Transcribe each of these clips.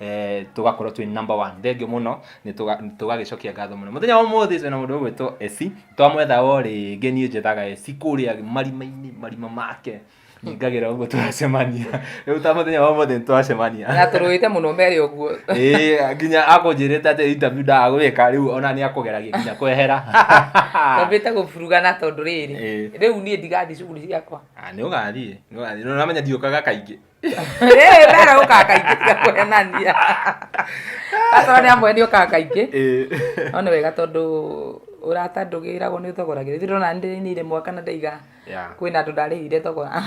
eh, tugakorwo twi number one thengio muno ni tugagicokia ngatho muno muthenya wa umuthi twina mundu ugwitwo esi twamwetha o ringi nie njethaga esi kuria marima-ini marima make ningagira uguo twacemania riu ta muthenya wa umuthi twacemania na turuite muno mere uguo eh nginya akunjirite ati interview ndagwika riu ona ni akugeragia nginya kwehera tambite guburuga na tondu riri riu nie ndigathi cuguri ciakwa ah, ni ugathie ni ugathie no namenya ndiukaga kaingi mbere ũkaga kaingĩ tiga kũhenania akorwo nĩ amwe nĩ ũkaga kaingĩ no nĩ wega tondũ ũrata ndũgĩragwo nĩ thogoragĩra ithuĩ ndona ndĩrĩinĩire mwaka na ndaiga kwĩna andũ ndarĩhire thogora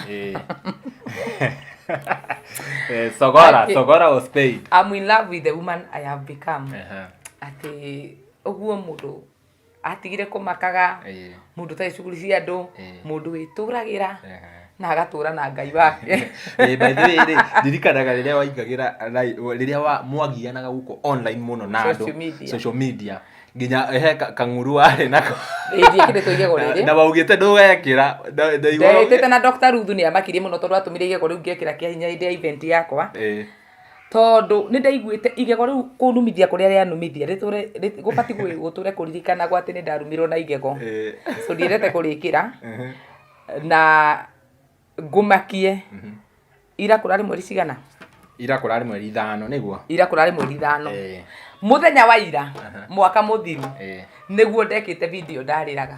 eh, thogora thogora was paid i'm in love with the woman i have become atĩ ũguo mũndũ atigire kũmakaga mũndũ ũtarĩ cuguri cia andũ mũndũ wĩtũragĩra na agatũra na ngai wake eh, by the way rĩ ndirikanaga rĩrĩa waingagĩra rĩrĩa wa mwagianaga gũkũ online mũno na andũ social media nginya he kang'uru warĩ nako na waugĩte ndũgekĩra ndaigwĩte na Dr. Ruthu nĩ amakirie mũno tondũ atũmire igego rĩu ngekĩra kĩa hinya hĩndĩ ya event yakwa tondũ nĩndaiguĩte igego rĩu kũnumithia kũrĩa rĩanumithia rĩtũre gũbatiĩ gũtũre kũririkanagwo atĩ nĩndarumirwo na igego so ndiendete kũrĩkĩra na ngũmakie ira kũrarĩ mweri cigana ira kũrarĩ mweri ithano nĩguo ira kũrarĩ mweri ithano mũthenya wa ira mwaka mũthiru nĩguo ndekĩte video ndarĩraga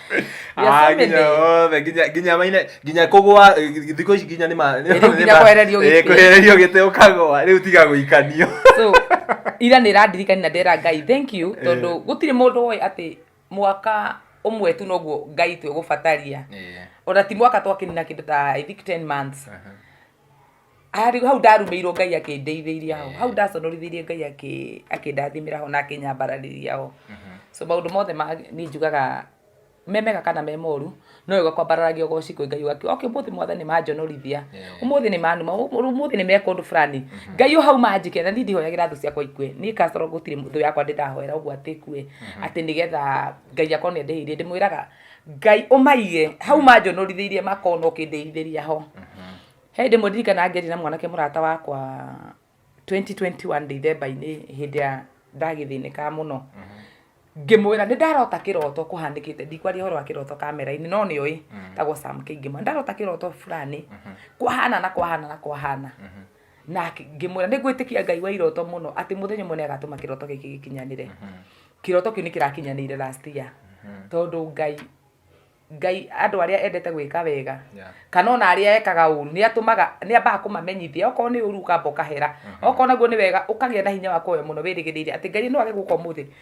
Ah, so nginya many. othe nginya nginya maine nginya kugwa eh, thikũ ici nginya nĩ ma Eh, rĩu nginya kwehererio gĩtĩ. Eh, kwehererio gĩtĩ ũkagwa rĩu tiga gũikanio so ira nä randirikani na ndera ngai thank you tondå gå tirä må ndå woä atä mwaka å mwe tu noguo ngai twä gå bataria ona ti mwaka twakä nina kä ndå ta I think 10 months Harĩ hau ndarumĩirwo Ngai akĩndeithĩria ho, hau ndaconorithirie Ngai akĩ akĩndathimĩra ho na akĩnyambararĩria ho. So maũndũ mothe ma niĩ njugaga me mega kana me moru, no wega kwambararagia ũgoci kwĩ Ngai ũgakiuga okay ũmũthĩ Mwathani nĩmanjonorithia, ũmũthĩ nĩmanuma, ũmũthĩ nĩmeka ũndũ fulani, Ngai ũhauma anjĩkĩre, na niĩ ndihoyagĩra thũ ciakwa ikue, niĩ kasoro gũtirĩ thũ yakwa ndĩrahoera ũguo atĩ ĩkue, atĩ nĩgetha Ngai akorwo nĩandĩhĩirie, ndĩmwĩraga ngai umaige hau manjonorithirie makona ukindithithĩria ho he hĩndĩ ĩmwe ndirikana ngĩaria na mwanake mũrata wakwa 2021 ndithemba-inĩ hĩndĩ ya ndagĩthĩnĩka mũno ngĩmwĩra nĩ ndarota kĩroto kũhanĩkĩte ndikwaria ũhoro wa kĩroto kamera-inĩ no nĩ ũĩ tagwo Sam Kĩngĩma ndarota kĩroto fulani kwahana na kwahana na kwahana na ngĩmwĩra nĩ ngwĩtĩkia ngai wa iroto mũno atĩ mũthenya ũmwe nĩ agatũma kĩroto gĩkĩ gĩkinyanĩre mhm. kĩroto kĩu nĩ kĩrakinyanĩire last year mhm. tondũ ngai ngai andå arä a endete gwä ka wega kana ona arä a ekaga å ru nä atåmaga nä ambaga kå mamenyithia okorwo nä å ru ukamba å kahera mhm. okorwo naguo nä wega å kagä a na hinya wa kåhoya må no wä rä gä rä ire atä ngai no age gå ka å må thä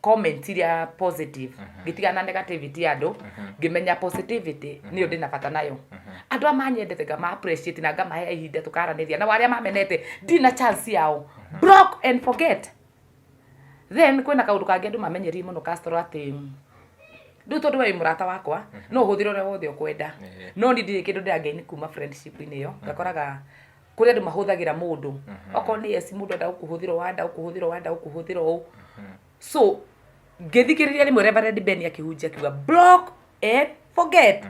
comment iria positive ngĩtiga na negativity ya andũ ngĩmenya positivity nĩyo ndĩ na bata nayo andũ a manyendete ngama appreciate na ngamahe ihinda tũkaranĩria na arĩa mamenete ndi na chance yao block and forget then kwĩna kaũndũ kangĩ andũ mamenyerie mũno kastorũ atĩ rĩu tondũ we wĩ mũrata wakwa no ũhũthĩre ũrĩa wothe ũkwenda no niĩ ndirĩ kĩndũ ndĩrangeini kuma friendship-inĩ ĩyo ngakoraga kũrĩ andũ mahũthagĩra mũndũ mm-hmm. okorwo nĩ yes mũndũ enda gũkũhũthĩra ũũ enda gũkũhũthĩra ũũ enda gũkũhũthĩra ũũ mm-hmm. so ngĩthikĩrĩria rĩmwe reverend ben akĩhunjia akiuga block and forget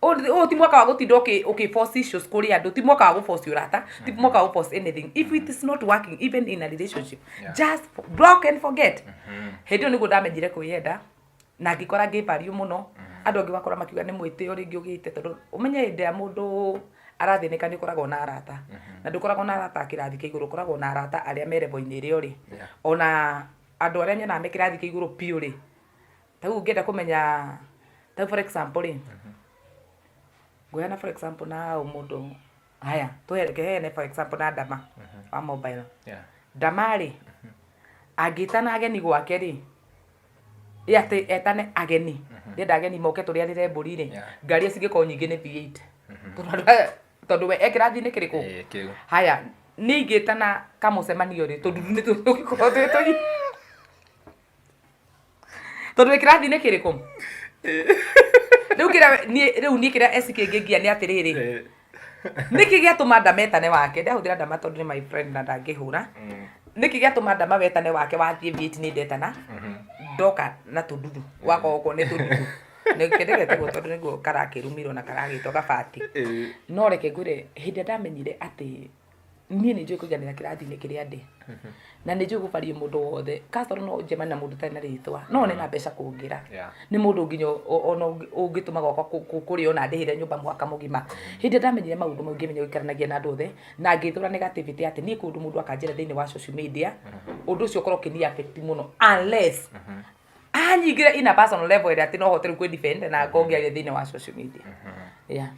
ũũ mm-hmm. ti mwaka wa gũtinda ũkĩforce issues kũrĩ andũ ti mwaka wa gũforce ũrata ti mwaka wa gũforce anything if it is not working even in a relationship just block and forget hĩndĩ ĩyo nĩguo ndamenyire kwĩyenda na ngĩkora ngĩ value mũno andũ angĩ ũgakora makiuga nĩ mwĩtĩo rĩngĩ ũgĩte tondũ ũmenye hĩndĩ ĩrĩa mũndũ arathĩnĩka nĩ ũkoragwo na arata na ndũkoragwo na arata a kĩrathi kĩa igũrũ ũkoragwo na arata arĩa me level-inĩ ĩrĩa ũrĩ Yeah. ona andũ arĩa nyonaga me kĩrathi kĩa igũrũ biũ rĩ ta rĩu ũngĩenda kũmenya ta rĩu for example rĩ ngũheana for example na ũ mũndũ haya tũheane for example na ndama wa mobile Yeah. ndama rĩ angĩtana ageni gwake rĩ ĩ atĩ etane ageni ndenda ageni moke tũrĩanĩre mbũri rĩ Yeah. ngari cingĩkorwo nyingĩ nĩ V8 Tondũ we- tondũ we ekĩrathiinĩ kĩrĩkũ Eh, kĩu haya ningĩ tana kamũcemanio rĩ tondũ nĩ tũgĩkorwo twĩ tũi tondũ wĩ kĩrathiinĩ kĩrĩkũ rĩu kĩrĩa niĩ- rĩu niĩ kĩrĩa eci kĩngĩngia nĩ atĩrĩrĩ Eh. nĩkĩ gĩatũma ndametane wake ndahũthĩra ndama tondũ nĩ my friend na ndangĩhũra mm. nĩkĩ gĩatũma ndama wetane wake wathiĩ vieti nĩ ndetana mm-hmm. ndoka na tũndudu wakorwo nĩ tũndudu nĩkĩndegete guo tondũ nĩguo karakĩrumirwo na karagĩtwo gabati no reke ngwĩre hĩndĩ ndamenyire atĩ niĩ nĩ njũĩ kũiganĩra kĩrathi-inĩ kĩrĩa ndĩ na nĩ njũĩ gũbaria mũndũ wothe kasoro no njemane na mũndũ ũtarĩ na rĩtwa no one na mbeca kũngĩra Yeah. nĩ mũndũ nginya o- o- ona ũngĩ- ũngĩtũma gwakwa kũ- kũ- kũrĩa ona ndĩhĩre nyũmba mwaka mũgima hĩndĩ ĩrĩa ndamenyire maũndũ mau ngĩmenya gũikaranagia na andũ othe na ngĩthũra negativity atĩ niĩ kũndũ mũndũ akanjĩra thĩinĩ wa social media ũndũ ũcio ũkorwo ũkĩni affect mũno unless anyingire in a personal level ĩrĩa atĩ no hote rĩu kwĩdefend na ngongĩaria thĩinĩ wa social media yeah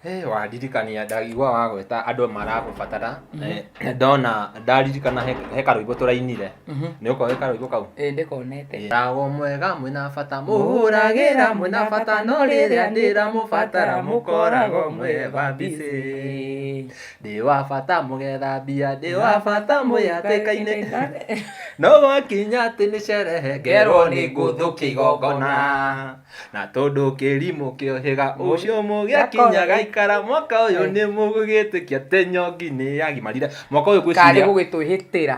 Hey, wandirikania ndagigua wa gwĩta andũ maragũbatara Eh, ndona ndaririkana he he karũimbo tũrainire nĩ ũkoĩ karũimbo kau ĩĩ ndĩkonete Ndago mwega mwĩna bata mũhũragĩra mwĩna bata no rĩrĩa ndĩramũbatara mũkoragwo mwĩbambicĩ ndĩ wa bata mũgethambia ndĩ wa bata mwĩhatĩkainĩ no gwakinya atĩ nĩ cerehe ngerwo nĩ ngũthũ kĩgongona na tondũ kĩrimũ kĩohĩga ũcio mũgĩakinya gaikara mwaka ũyũ nĩ mũgũgĩtĩkia atĩ nyongi nĩ yagimarire mwaka ũyũ karĩ gwĩciria gũgĩtwĩhĩtĩra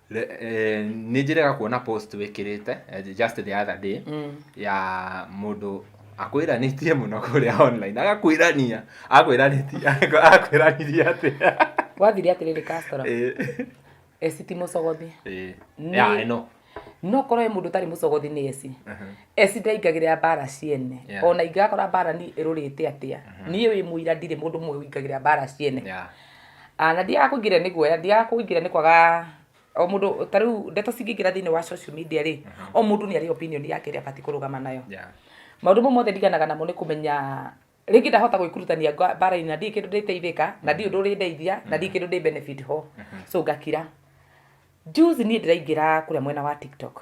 Eh, nĩ njĩrega kuona post wĩkĩrĩte eh, just the other day mm. ya mũndũ akwĩranĩtie mũno kũrĩa online agakwĩrania akwĩranĩtie akwĩranirie atĩ wathire atĩrĩrĩ customer eh. esi ti mũcogothi ya ĩno no korwo mũndũ ũtarĩ mũcogothi nĩ esi uh-huh. esi ndaingagĩrĩra mbara ciene ona ingĩgakora mbara ni ĩrũrĩte atĩa uh-huh. niĩ wĩ mũira ndirĩ mũndũ ũmwe ũingagĩrĩra mbara ciene Ah, na ndiaga kũingĩrĩra nĩ guoya ndiaga kũingĩrĩra nĩ kwaga o mũndũ ta rĩu ndeto cingĩingĩra thĩinĩ wa social media rĩ o mũndũ nĩ arĩ opinion yake ĩrĩa abatiĩ kũrũgama nayo Yeah. maũndũ mau mothe ndiganaga namo nĩ kũmenya rĩngĩ ndahota gwĩkurutania nga- mbara-inĩ na ndirĩ kĩndũ ndĩteithĩka na ndirĩ ũndũ ũrĩ ndeithia na ndirĩ kĩndũ ndĩ benefit ho so ngakira juzi niĩ ndĩraingĩra kũrĩa mwena wa tiktok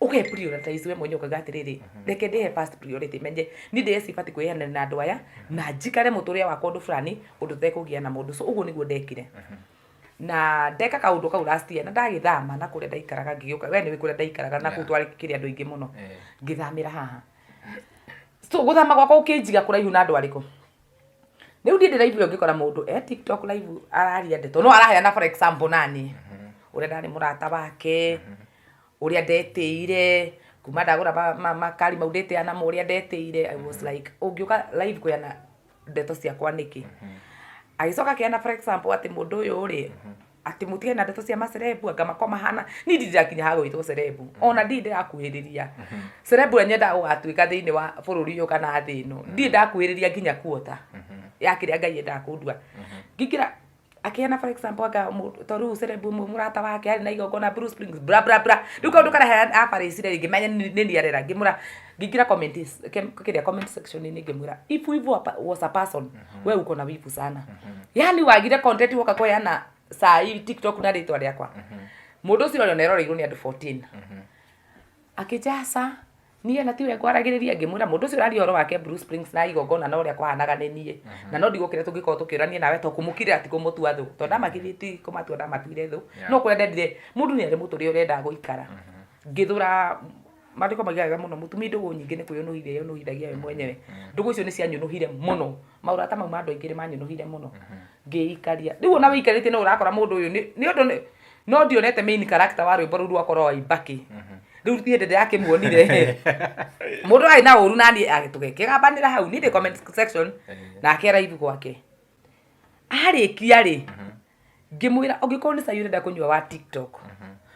uke prioritize we mwenye ukaga atiriri mhm. reke ndihe first priority menye ni ndi esi bati kwihana na andu aya mhm. na njikare muturia wakwa undu fulani undu tekugia na mundu so uguo niguo ndekire mhm. na ndeka kaundu kau last year na ndagithama na kuria ndaikaraga ngiuka we niwe kuria ndaikaraga na kuu twari kiri andu ingi muno eh. ngithamira haha so guthama gwakwa ukinjiga kuraihu na andu ariku riu ndie ndiraigua ngikora mundu e tiktok live araria ndeto no araheana for example nani uria ndari murata wake ũrĩa ndetĩire kuma ndagũra ma- ma- makari mau ndĩtĩa namo ũrĩa ndetĩire i was like ũngĩũka live kũheana ndeto ciakwa nĩkĩ agĩcoka akĩheana for example atĩ mũndũ ũyũ rĩ atĩ mũtige na ndeto cia macerebu anga makwa mahana niĩ ndirĩ ndakinya ha gwĩtwo cerebu ona ndirĩ ndĩrakuhĩrĩria cerebu ũrĩa nyendaga gũgatuĩka thĩinĩ wa bũrũri ũyũ kana thĩ ĩno ndirĩ ndakuhĩrĩria nginya kuota ya kĩrĩa ngai endaga kũndua ngĩkĩra akiana for example anga mũndũ- to rĩu cerebu ũmwe mũrata wake arĩ na igongona Blue Springs bra bra bra rĩu kaũndũ karehe abarĩcire rĩngĩ menye nĩ nĩ niarera ngĩmwĩra ngĩingĩra comment is- kem- kĩrĩa comment section inĩ ngĩmwĩra if wivu wa pa- was a person we uko na wivu sana yani wagire content woka kweana saa hii tiktok na rĩtwa rĩakwa mũndũ ũcio ũrĩa oneroreirwo nĩ andũ 14 akĩjaca niĩ ona tiwe ngwaragĩrĩria ngĩmwĩra mũndũ ũcio ũraria ũhoro wake Bruce Springs na igongona na ũrĩa kwahanaga nĩ niĩ na no ndigũkĩrĩa tũngĩkorwo tũkĩũrania nawe to kũmũkirĩra ti kũmũtua thũ tondũ ndamakirĩtie ti kũmatua ndamatuire thũ no kũrĩa ndendire mũndũ nĩ arĩ mũtũ ũrĩa ũrendaga gũikara ngĩthũra maandĩko mauga wega mũno mũtumia ndũgũ nyingĩ nĩ kwĩyũnũhire yũnũhithagia we mwenyewe ndũgũ icio nĩ cianyũnũhire mũno maũrata mau ma andũ aingĩ nĩ manyũnũhire mũno ngĩikaria rĩu ona wĩikarĩtie no ũrakora mũndũ ũyũ nĩ nĩ ũndũ nĩ no ndionete main character wa rwĩmbo rũu rwakorwo wa ibaki rĩu niĩ ndĩ ndĩrakĩmuonire mũndũ arĩ na ũru na niĩ agĩ- tũgĩkĩgambanĩra hau niĩ ndĩ comment section nake araivu gwake arĩkia rĩ ngĩmwĩra ũngĩkorwo nĩ cai ũrenda kũnyua wa tiktok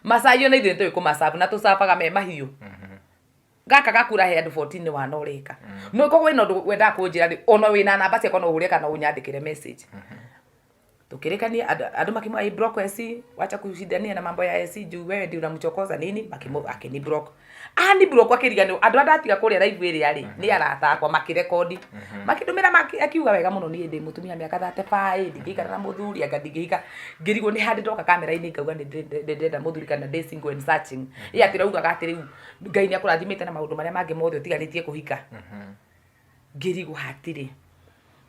macai ona ithuĩ nĩtũĩ kũmacabu na tũcabaga me mahiũ gaka gakura he andũ 14 wana ũreka no koguo wĩna ũndũ wendaga kũnjĩra rĩ ona wĩna namba ciakwa no ũhũre kana ũnyandĩkĩre message tukirikania andu- andu makimwa i block AC wacha kushindania na mambo ya AC juu wewe ndio unamchokoza nini makimu akini block ah ni block akiriganio andu andu atiga kuria live iri ari ni arata akwa makirekondi makindumira maki- akiuga wega muno ni ndi mutumia miaka 35 ndingikara na muthuri anga ndingihika ngirigwo ni handi ndoka kamera ini ngauga ni ndenda muthuri kana ndi single and searching ya ati raugaga ati riu ngai ni akurathimite na maundu maria mangi mothe utiganitie kuhika ngĩrigwo hatirĩ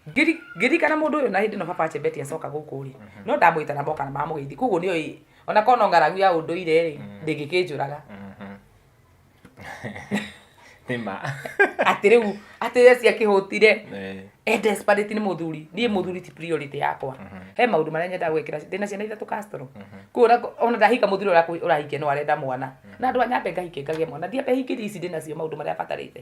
Ngĩri- ngĩririkana mũndũ ũyũ na hĩndĩ ĩno baba chebeti acoka gũkũ rĩ no ndamwĩta na moka na mamũgeithia koguo nĩo ĩ ona korwo no ng'aragu ya ũndũire rĩ ndĩngĩkĩnjũraga Mhm. nĩ ma atĩ rĩu atĩ ye ciakĩhũtire Eh, e desperate nĩ mũthuri niĩ mũthuri ti priority yakwa he maũndũ marĩa nyendaga gwĩkĩra ndĩna ciana ithatũ castro kũu ona- ona ndahika mũthuri ũrĩa ũrahikia no arenda mwana na andũ a nyambe ngahike ngagĩa mwana ndiambe hingĩria ici ndĩnacio maũndũ marĩa batarĩte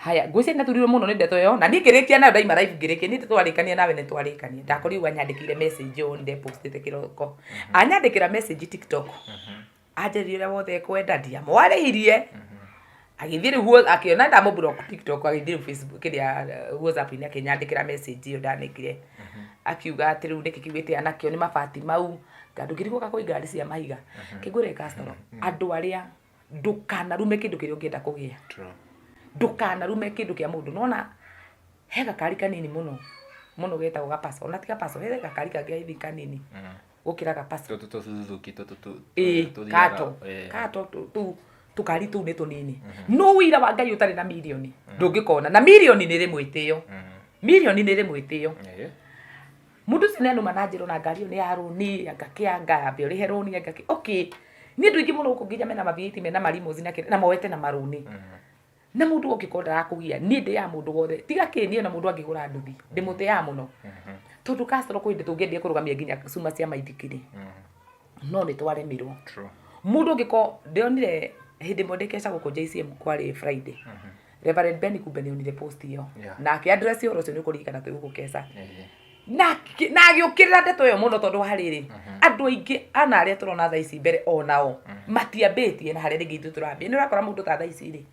Haya, ngwĩciria nĩ naturirwo mũno nĩ ndeto ĩyo, na niĩ ngĩrĩkia nayo ndaima live ngĩrĩkia, niĩ twarĩkania nawe nĩ twarĩkania, ndakorirwo anyandĩkĩire message ũũ nĩ postĩte kĩroko. Mhm. Anyandĩkĩra message TikTok, mhm. anjĩrĩria ũrĩa wothe ekwenda ndiamwarĩirie, mhm. agĩthiĩ rĩu akĩona ndamũ block TikTok agĩthiĩ rĩu Facebook kĩrĩa uh, WhatsApp-inĩ akĩnyandĩkĩra message ĩyo ndanekire, akiuga atĩ rĩu nĩkĩ kiugĩte anakĩo nĩ mabati mau, tondũ ngĩrigwo kakũi ngari cia mahiga, kĩngũre customer, andũ arĩa ndũkanarume kĩndũ kĩrĩa ũngĩenda kũgĩa True. ndũkanarume kĩndũ kĩa mũndũ nona he gakari kanini mũno mũno getagwo gapaso ona ti gapaso he gakari kangĩ hivi kanini Mm. gũkĩra gapaso Tũtũ tũ Suzuki, tũtũ tũ- Ĩĩ, tũ- tũthiaga- kato Ĩĩ. kato tũ- tũ- tũkari tũu nĩ tũnini no wira wa ngai ũtarĩ na mirioni ndũngĩkona na mirioni nĩ rĩ mwĩtĩo Mhm. mirioni nĩ rĩ mwĩtĩo Ĩĩ. Mũndũ ũcio nĩ anũma na njĩra ona ngari ĩyo nĩ ya rũni, anga kĩ anga ambe ũrĩhe rũni anga kĩ. Okay. Niĩ andũ aingĩ mũno gũkũ nginya mena mabiĩti mena marimos na kĩrĩa na moete na marũni. Na mũndũ ũngĩkorwo ndarakũgia niĩ ndĩaga mũndũ wothe tiga kĩ niĩ ona mũndũ angĩgũra nduthi ndĩmũtĩaga mũno. Tondũ customer kwĩ hĩndĩ tũngĩendia kũrũgamia nginya cuma cia maithikiri. no nĩ twaremirwo True. mundu ngiko ndionire hindi mwe ndikeca guku JCM kwari Friday Reverend Ben kumbe ni onire post iyo Yeah. na aki address yo rucio ni kurikana twi guku keca Eh, na ki- na agiukirira ndeto iyo muno tondu hariri andu aingi ana aria turona thaa ici mbere onao matiambitie na haria ringi ithu turambia ni urakora mundu ta thaa ici ri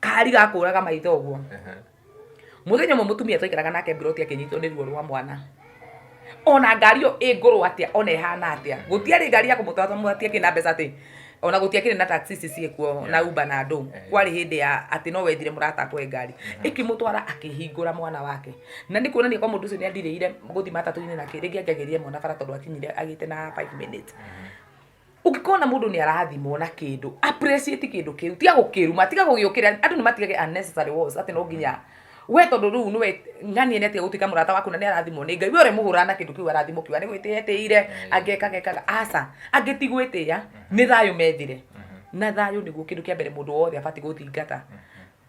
kari gakũraga maitho ũguo Ehe. muthenya umwe mutumia twaikaraga nake mburoti akinyitwo nĩ ruo rwa mwana ona ngari ĩyo ĩ ngũrũ atĩa ona ĩhana atĩa gũtiarĩ ngari ya kũmũtwara mũtiakĩrĩ na mbeca atĩ ona gũtiakĩrĩ na taxi ici ciĩkuo na uba na andũ Eh. kwarĩ hĩndĩ ya atĩ no wethire mũrata akwe ngari ĩkĩmũtwara akĩhingũra mwana wake na nĩ kuonania kwa mũndũ ũcio nĩ andirĩire gũthiĩ matatũ-inĩ nake rĩngĩ angĩagĩrire mwana bara tondũ akinyire agĩte na 5 minutes ũngĩkona mũndũ nĩ arathimwo na kĩndũ appreciate kĩndũ kĩu tiga gũkĩruma tiga gũgĩũkĩrĩa andũ nĩ matigage unnecessary wars atĩ no nginya we tondũ rĩu nĩwe ng'ania nĩ atiga gũtuĩka mũrata waku na nĩ arathimwo nĩ ngai we ũrĩ mũhũra na kĩndũ kĩu arathimwo kiuga nĩ gwĩtĩya etĩire angekaga ekaga aca angĩ ti gwĩtĩya nĩ thayũ methire na thayũ nĩguo kĩndũ kĩa mbere mũndũ wothe abatiĩ gũthingata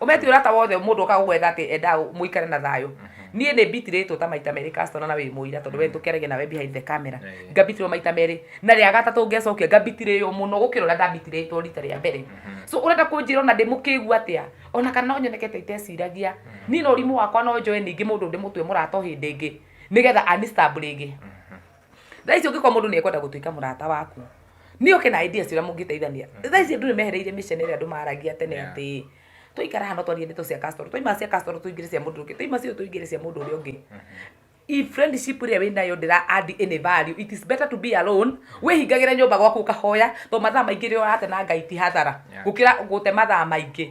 umeti urata wothe mundu oka gugwetha ati enda muikare na thayo mhm. nie ni bitiritwo ta maita meri customer na wi muira tondu we mhm. tukeragia nawe behind the camera eh. ngabitirwo maita meri na ria gatatu ngecokia ngabitirio muno gukira uria ndabitiritwo rita ria mbere mhm. so urenda kunjira ona ndi mukigu atia ona kana no nyonekete iteciragia ni no rimu wakwa no njoe ningi mundu ndi mutwe murato hindi ingi nigetha anistabringi thaa ici ũngĩkorwo mũndũ nĩ ekwenda gũtuĩka mũrata waku nĩ oke na ideas ũrĩa mũngĩteithania thaa ici andũ nĩ mehereire mĩcene ĩrĩa andũ maragia tene Yeah. atĩ tũikara hano twarie ndeto cia customer twaima cia customer tũingĩre cia mũndũ ũngĩ twaima cio tũingĩre cia mũndũ ũrĩa ũngĩ if friendship ĩrĩa wĩ nayo ndĩra add any value it is better to be alone wĩhingagĩre nyũmba gwaku ũkahoya to mathaa maingĩ rĩrĩa ũrate na ngai ti hathara Yeah. gũkĩra gũte mathaa maingĩ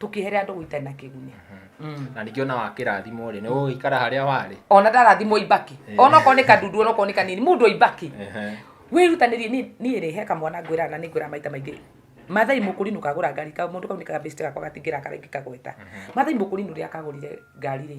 tũkĩhere andũ gũitarĩ na kĩguni Mm. na ningĩ ona wakĩrathimo rĩ nĩ ũgũgĩikara harĩa warĩ ona ndarathimwo ibaki Eh. ona okorwo nĩ kandudu ona okorwo nĩ kanini mũndũ ibaki Ehe. wĩrutanĩrie niĩ- niĩ rĩ he kamwana ngwĩraga na nĩ ngwĩraga maita maingĩ mathai mũkũri nũ kagũra ngari ka mũndũ kau nĩ kagabĩcite gakwa gatingĩra karaingĩ kagweta mathai mũkũri nũ rĩa kagũrire ngari rĩ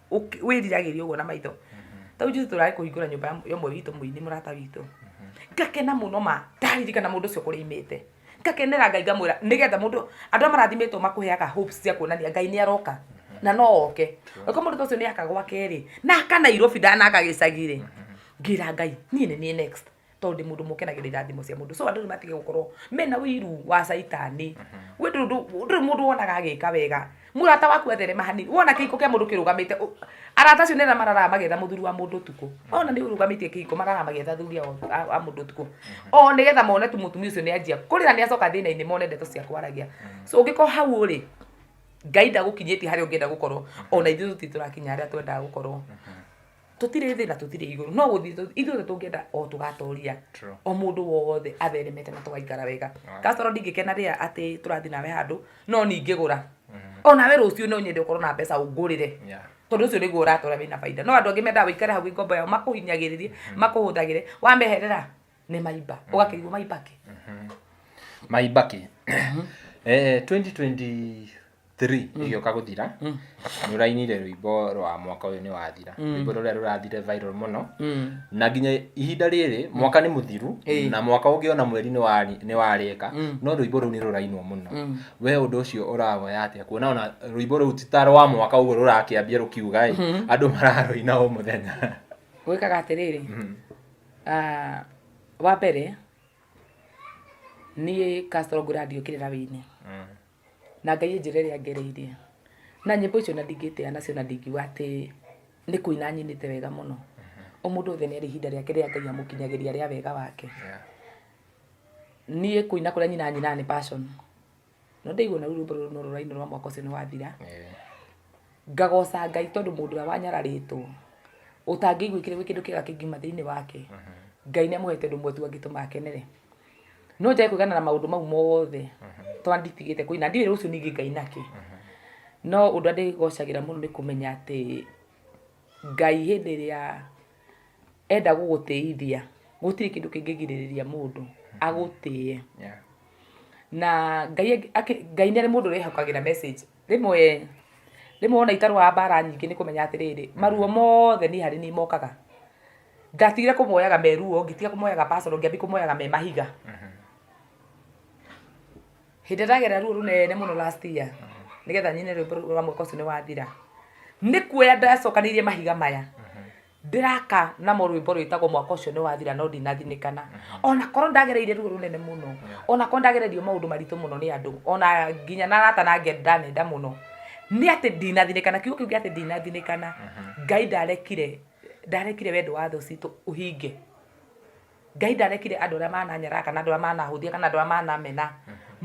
ũki- wĩriragĩria ũguo na maitho tau juzi tũrarĩ kũhingũra nyũmba ya- ya ũmwe witũ mũini mũrata witũ ngakena mũno ma ndaririkana mũndũ ũcio kũrĩa imĩte ngakenera ngai ngamwĩra nĩgetha mũndũ andũ arĩa marathimĩtwo makũheaga hopes cia kuonania ngai nĩ aroka na no oke ũko mũndũ ta ũcio nĩ aka gwake-rĩ na aka nairobi ndanaga gĩcagi-rĩ ngĩra ngai niĩ nĩ niĩ next tondũ ndĩ mũndũ mũkenagĩra irathimo cia mũndũ so andũ nĩ matige gũkorwo mena ũiru wa caitani we ndũrĩ ndũ- ndũrĩ mũndũ wonaga agĩka wega mũrata waku atherema hanini wona kĩhiko kĩa mũndũ kĩrũgamĩte ũ- arata acio nĩra mararaga magĩetha mũthuri wa mũndũ ũtukũ ona nĩ ũrũgamĩtie kĩhiko mararaga magĩetha thuri ao- a a mũndũ ũtukũ o nĩgetha mone tu mũtumia ũcio nĩ anjia kũrĩra nĩ acoka thĩna-inĩ mone ndeto cia kwaragia so ũngĩkorwo hau ũrĩ ngai ndagũkinyĩtie harĩa ũngĩenda gũkorwo ona ithuĩ tũtirĩ tũrakinya harĩa twendaga gũkorwo tũtirĩ thĩ na tũtirĩ igũrũ no gũthiĩ tũ- ithuothe tũngĩenda o tũgatoria True. o mũndũ wothe atheremete na tũgaikara wega Right. kasoro ndingĩkena rĩa atĩ tũrathiĩ nawe handũ no ningĩgũra o nawe rũciũ no nyende ũkorwo na mbeca ũngũrĩre Yeah. tondå å cio nä guo å ratåra wä na baida no andå angä mendaga wä ikare hau wä ngombo yao makå hinyagä rä rie makå hå thagä re wameherera nä maimba å gakä rigwo maimbake Maibaki. eh, 2020 3 ĩgĩũka gũthira nĩ ũrainire rwĩmbo rwa mwaka ũyũ nĩ wathira rwĩmbo rũrĩa rũrathire viral mũno na nginya ihinda rĩrĩ mwaka nĩ mũthiru Ĩĩ. na mwaka ũngĩ ona mweri nĩ wari- nĩ warĩka no rwĩmbo rũu nĩ rũrainwo mũno we ũndũ ũcio ũrawoya atĩa kuona ona rwĩmbo rũu ti ta rwa mwaka ũguo rũrakĩambia rũkiuga ĩ andũ mararũina o mũthenya gwĩkaga atĩrĩrĩ ah, wa mbere niĩ Castro Grad yũkĩrĩra wĩinĩ Mm. na Ngai e njĩra ĩrĩa angereirie. Na nyĩmbo icio ona ndingĩtĩya nacio na ndingiuga atĩ nĩ kũina nyinĩte wega mũno. O mũndũ wothe nĩ arĩ ihinda rĩake rĩrĩa Ngai amũkinyagĩria rĩa wega wake. Niĩ kũina kũrĩa nyinaga nyinaga nĩ passion. No ndaigua ona rũu rwĩmbo rũrũ no rũrainwo rwa mwaka ũcio nĩ wathira, ngagoca Ngai tondũ mũndũ ũrĩa wanyararĩtwo, ũtangĩiguĩkire gwĩ kĩndũ kĩega kĩngiuma thĩinĩ wake, Ngai nĩ amũhete ũndũ ũmwe tu angĩtũma akenere. no njage kwĩgana na maũndũ mau mothe tondũ nditigĩte kũina ndiũĩ rũciũ ningĩ ngaina kĩ no ũndũ ũrĩa ndĩgocagĩra mũno nĩ kũmenya atĩ ngai hĩndĩ ĩrĩa enda gũgũtĩithia gũtirĩ kĩndũ kĩngĩgirĩrĩria mũndũ agũtĩe Yeah. na ngai angĩ- akĩ- ngai nĩ arĩ mũndũ wĩhokagĩra message rĩmwe rĩmwe wona itarũaga mbara nyingĩ nĩ kũmenya atĩrĩrĩ maruo mothe niĩ harĩ niĩ mokaga Ngatigire kũmoyaga me ruo, ngĩtiga kũmoyaga personal, ngĩambia kũmoyaga me mahiga. Hĩndĩ ĩrĩa ndagerera ruo rũnene mũno last year, nĩgetha nyine rwĩmbo rũu rwa mwaka ũcio nĩ wathira, nĩ kuoya ndacokanĩrĩirie mahiga maya, ndĩraka namo rwĩmbo rwĩtagwo mwaka ũcio nĩ wathira no ndinathinĩkana. Ona korwo ndagereire ruo rũnene mũno, ona korwo ndagererio maũndũ maritũ mũno nĩ andũ, ona nginya na arata na angĩ ndanenda mũno, nĩ atĩ ndinathinĩkana, kiugo kĩu gĩa atĩ ndinathinĩkana, Ngai ndarekire Ndarekire wendo wa thũ citũ ũhinge. Ngai ndarekire andũ arĩa mananyaraha kana andũ arĩa manahũthia kana andũ arĩa manamena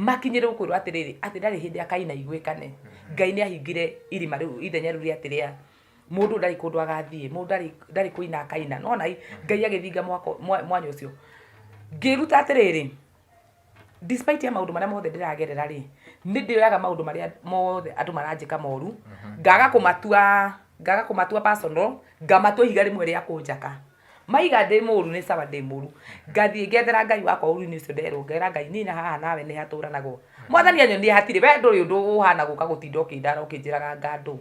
makinyĩrĩrwo kwĩrwo atĩrĩrĩ, atĩ ndarĩ hĩndĩ akainaiguĩka nĩ. Ngai nĩ ahingire irima rĩu ithenya rĩu rĩa atĩrĩa, mũndũ ndarĩ kũndũ agathiĩ, mũndũ ndarĩ ndarĩ kũina akaina. Nĩ wona Ngai agĩthinga mwako mwanya ũcio. Ngĩĩruta atĩrĩrĩ... despite ya maundu maria mothe ndiragerera ri nindiyoyaga maundu maria mothe andu maranjika moru ngaga kumatua ngaga kumatua personal ngamatua ihiga rimwe ria kunjaka maiga ndi muru ni sawa ndi muru ngathie ngethera ngai wakwa uru-ini ucio nderwo ngera ngai nina haha nawe ni haturanagwo mwathani anyonie hatiri we nduri undu uhana guka gutinda ukindara ukinjiraga ngandu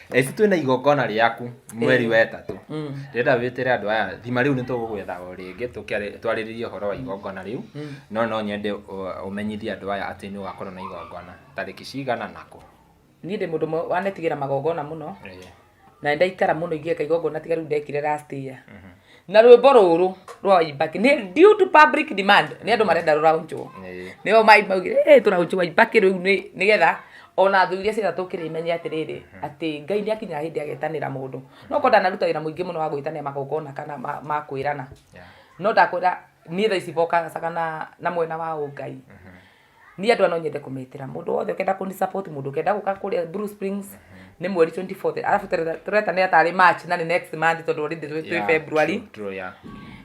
Eci twĩna igongona rĩaku mweri wa ĩtatũ ndĩrenda wĩtĩre andũ aya thima rĩu nĩ tũgũgwetha o rĩngĩ tũkĩare- twarĩrĩrie ũhoro wa igongona rĩu no no nyende ũ- ũmenyithie andũ aya atĩ nĩ ũgakorwo na igongona tarĩki cigana na kũ niĩ ndĩ mũndũ ũmwe wanetigĩra magongona mũno na nĩ ndaikara mũno ingĩeka igongona tiga rĩu ndekire last year na rwĩmbo rũrũ rwa waibaki nĩ due to public demand nĩ andũ marenda rũraunjwo Ĩĩ. nĩo maugire "Eh, tũraunjwo waibaki rĩu nĩ- nĩgetha ona thũ iria ciothe tũkĩrĩ imenye atĩrĩrĩ atĩ ngai nĩ akinyaga hĩndĩ agetanĩra mũndũ no korwo ndanaruta wĩra mũingĩ mũno wa gwĩtanĩra magongona kana ma- ma kwĩrana Yeah. no ndakwĩra niĩ thaa ici bokaga na na mwena wa ũngai Niĩ andũ aya no nyende kũmetĩra. Mũndũ wothe ũkenda kũni support, mũndũ ũkenda gũka kũrĩa Blue Springs, nĩ mweri 24th. Arabu tũre- tũretanĩra tarĩ March na nĩ next month tondũ already twĩ twĩ Yeah, February. true, true, yeah.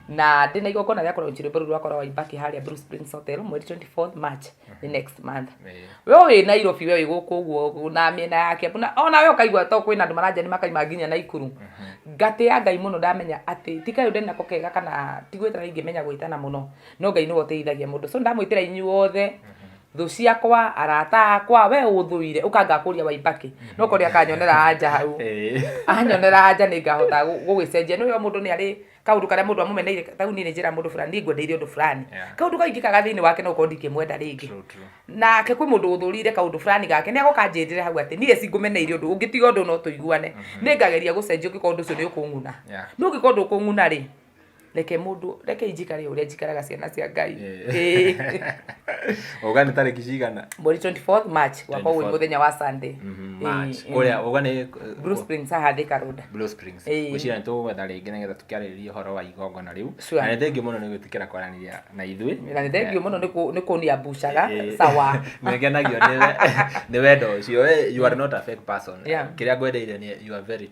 Na ndĩ na igongona rĩa kũronchi rwĩmbo rũu rwakwa rwa Waibaki harĩa Blue Springs Hotel mweri 24th March nĩ next month. Eh. We wĩ Nairobi we wĩ gũkũ ũguo na mĩena ya Kiambu na ona we ũkaigua to kwĩna andũ maranja nĩ makaima nginya Naikuru. Ngatĩa Ngai mũno ndamenya atĩ ti kayũ ndĩ nako kega kana ti gwĩtana ingĩmenya gwĩtana mũno. No Ngai nĩwe ũteithagia mũndũ. So ndamwĩtĩra inyuothe thũ ciakwa arata akwa we ũthũire ũka ngakũria waibaki no kore akanyonera anja hau anyonera anja nĩ ngahota gũgĩcenjia nĩ mũndũ nĩ arĩ kaũndũ karĩa mũndũ amũmeneire ta u niĩ nĩ njĩra mũndũ fulani nĩ ngwendeire ũndũ fulani kaũndũ kau ingĩkaga thĩinĩ wake no korwo ndingĩmwenda rĩngĩ nake kwĩ mũndũ ũthũrire kaũndũ fulani gake nĩ agoka anjĩrĩre hau atĩ niĩ cingũmeneire ũndũ ũngĩtiga ũndũ no tũiguane nĩ ngageria gũcenjia ũngĩkorwo ũndũ ũcio nĩ ũkũng'una no ũngĩkorwo ndũkũng'una rĩ reke mundu reke injikare uria njikaraga ciana cia ngai Eh. uga nä tarä ki cigana mbori 24 march wakwa wä 24. muthenya wa sunday Mhm, Eh, March. eh. Ũrĩa- uga nä Blue Springs haha Thika Road. Blue Springs. Eh. Gwĩciria nĩ tũgwetha rĩngĩ nĩgetha tũkĩarĩrĩrie ũhoro wa igongona rĩu Sure. na nĩ thengiũ mũno nĩ gwĩtĩkĩra kwaranĩria na ithuĩ na nä thengio må no nä kå nia mbucaga Eh, sawa nĩngenagio nĩ we- nĩ wendo ũcio We, you are not a fake person Yeah. kĩrĩa ngwendeire nĩ you are very